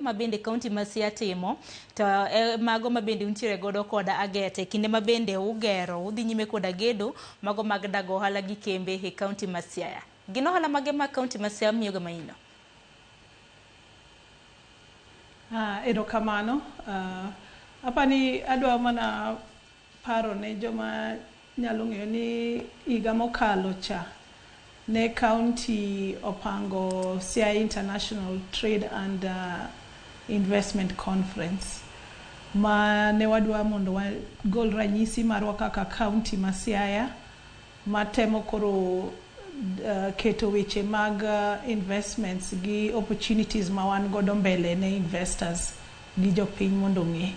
ma bende kaunti ma Siaya timo to e mago ma bende untiere godo koda agete kinde ma bende ugero udhi nyime koda gedo mago mag dago ohala gi kembe e kaunti ma Siaya. Gin ohala mage ma kaunti ma Siaya miyoga maino? Ah, erokamano. Ah, apani adwa mana Paro ne joma nyalo ng'eyo ni higa mokalo cha ne kaunti opango Siaya International Trade and Investment Conference ma ne wadwa mondo wagol ranyisi marwa kaka kaunti ma Siaya. ma temo koro keto weche mag investments gi opportunities ma wan godo mbele ne investors gi jopiny mondo ong'e.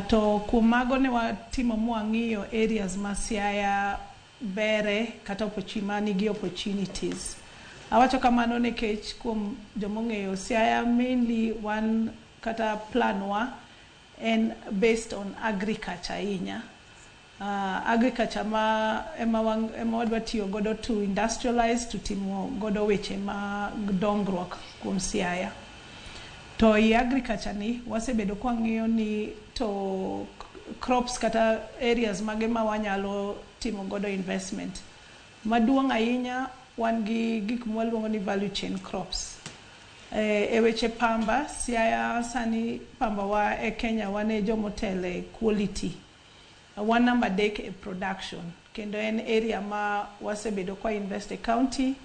To kuom mago ne watimo ma wang'iyo areas ma Siaya bere kata ma nigi opportunities. Awacho kamano nikech kuom joma ong'eyo Siaya mainly wan kata plan wa en based on agriculture ahinya. agriculture ma ema wang, ema wadwa tiyo godo to industrialize to timo godo weche mag dongruok kuom Siaya. To i agriculture ni wasebedo kwa ng'iyo ni to crops kata areas mage ma wanyalo timo godo investment. Maduong' ahinya wan gi gik mwaluongo ni value chain crops. E, e weche pamba, Siaya sani pamba wa e Kenya wane jomotele quality. Wan namba adek e production kendo en area ma wasebedo kwa invest e county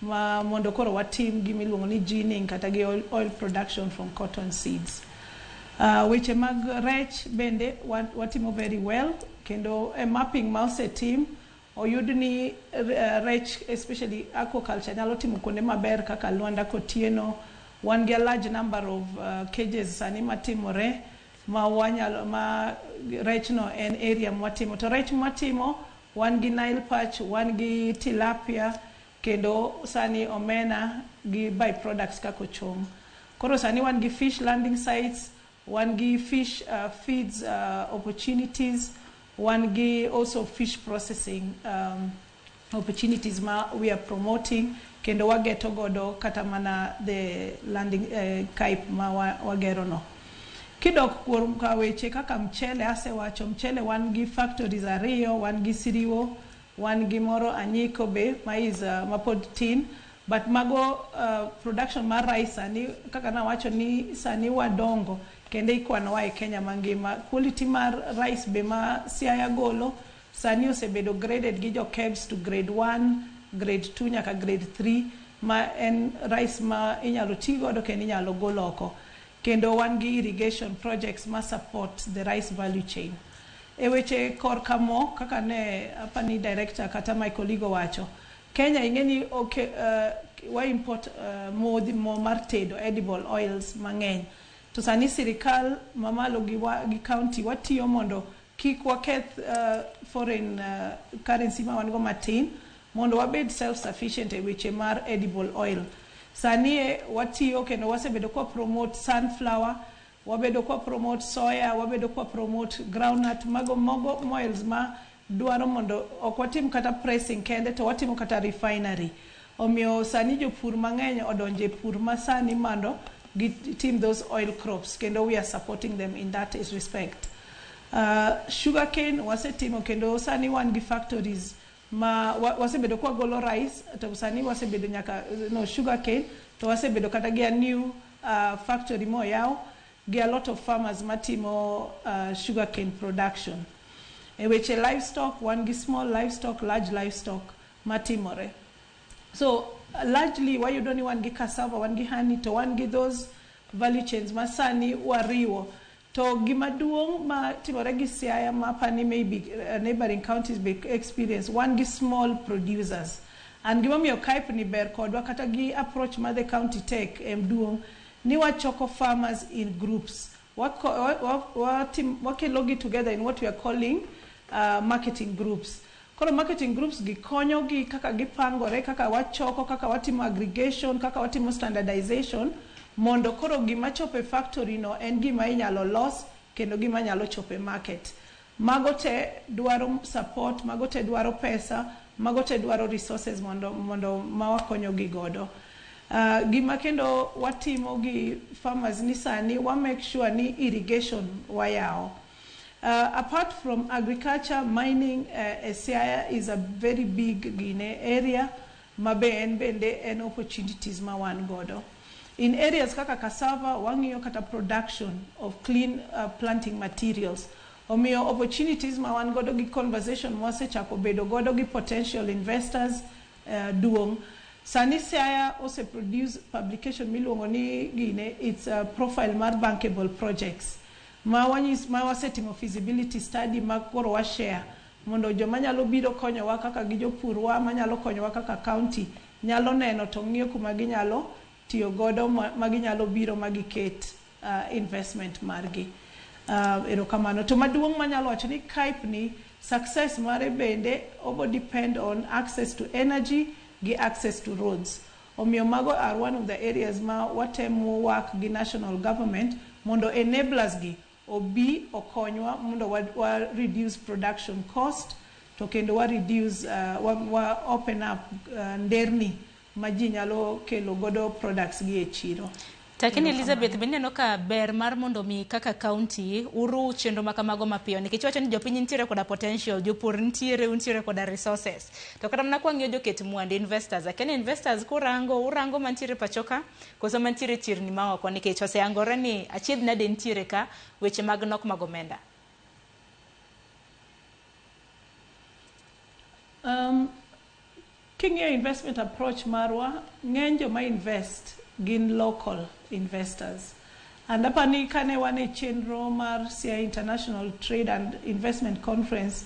ma mondo koro watim gima iluongo ni ginning kata gi oil, oil production from cotton seeds. Uh, weche mag rech bende wat- watimo very well kendo e mapping ma osetim oyud ni eh, rech especially aquaculture nyalo timo kuonde maber kaka Luanda Kotieno wan gi a large number of uh, cages sani matimore ma wanyalo ma rech no en area mwatimo to rech mwatimo wan gi nile perch wan gi tilapia kendo sani omena gi by products kaka ochom koro sani wan gi fish landing sites wan gi fish uh, feeds uh, opportunities wan gi also fish processing um, opportunities ma we are promoting kendo wageto godo kata mana the landing KAIP ma wagero no. Kidok kuom ka weche kaka mchele asewacho mchele wan gi factories ariyo wan gi Siriwo wan gi moro Anyiko be ma is ma pod tin but mago production mar rice sani kaka nawacho ni sani wadongo kendo ikwanowa e Kenya mangima. Quality mar rice be ma Siaya golo Sani osebedo graded gi jo KEBS to grade one, grade two nyaka grade three ma en rice ma inyalo ti godo kendo inyalo gol oko. Kendo wan gi irrigation projects ma support the rice value chain. E weche kor ka mo kaka ne apani director kata my colleague owacho, Kenya ing'e ni oke, uh, wa import uh, modhi mo mar tedo edible oils mang'eny. To sani sirikal mamalo gi, wa, gi county watiyo mondo Kik waketh foreign currency ma wan go matin mondo wabed self sufficient e weche mar edible oil. Sani e watiyo kendo wasebedo kwa promote sunflower, wabedo kwa promote soya, wabedo kwa promote groundnut, mago mogo moils ma dwaro mondo ok watim kata pressing kende to watimo kata refinery. Omiyo sani jopur mangeny odonjo e pur masani mando gi tim those oil crops kendo we are supporting them in that respect. Sugar cane wasetimo kendo sani wan gi factories ma wasebedo ka wagolo rice to sani wasebedo nyaka no sugar cane to wasebedo kata gi a new factory ma oyaw gi a lot of farmers matimo sugar cane production. E weche livestock wan gi small livestock, large livestock. matimore so largely wayudo ni wan gi cassava wan gi honey to wan gi those value chains ma sani wariwo to gima duong' ma timore gi Siaya ma apani maybe uh, neighboring counties be experience wan gi small producers and gimomiyo KAIP ni ber kodwa kata gi approach ma the county take em duong' ni wachoko farmers in groups Wakelogi together in what we are calling marketing groups. Koro marketing groups gi konyogi kaka gipangore, kaka wachoko, kaka watimo aggregation, kaka watimo standardization mondo koro gima chopo e factory no en gima inyalo los kendo gima nyalo chopo e market. Mago te dwaro support, mago te dwaro pesa, mago te dwaro resources mondo mondo ma wakonyo gi godo. Gima kendo watimo gi farmers ni sani wa make sure ni irrigation wayawo. Apart from agriculture, mining e Siaya is a very big gine area. ma be en bende en opportunities ma wan godo in areas kaka cassava wang'iyo kata production of clean uh, planting materials omiyo opportunities ma wan godo gi conversation ma wasechako bedo godo gi potential investors uh, duong' sani siaya ose produce publication miluongo ni gine its a profile mar bankable projects ma, wanyis, ma wasetimo feasibility study ma koro washare mondo joma nyalo biro konyowa kaka gi jopurwa manyalo konyowa kaka county nyalo neno to ng'iyo kuma ginyalo tiyo godo ma ginyalo biro ma giket investment margi. Erokamano. To maduong' manyalo wacho ni KAIP ni success mare bende obo depend on access to energy gi access to roads. Omiyo mago are one of the areas ma watemo work gi national government mondo enablers gi obi okonywa mondo wa wa reduce production cost to kendo wa reduce uh, wa, wa open up uh, nderni ma ji nyalo kelo godo products gi e chiro. Lakini Elizabeth, be ineno ka ber mar mondo mi kaka county uru chenro ma kamago mapiyo nikech wacho ni jopiny nitiere koda potential, jopur nitiere, untiere koda resources. To kata mana kwang'iyo joket mwandu investors, akia ni investors kurango urango mantiere pachoka Koso mantiere chirni ma oko nikech oseyangore ni achiedh nade nitiere ka weche mag nok mag omenda. Um, king'iyo investment approach marwa, ng'eny joma invest gin local investors. And apa ni kane wan e chenro mar Siaya International Trade and Investment Conference,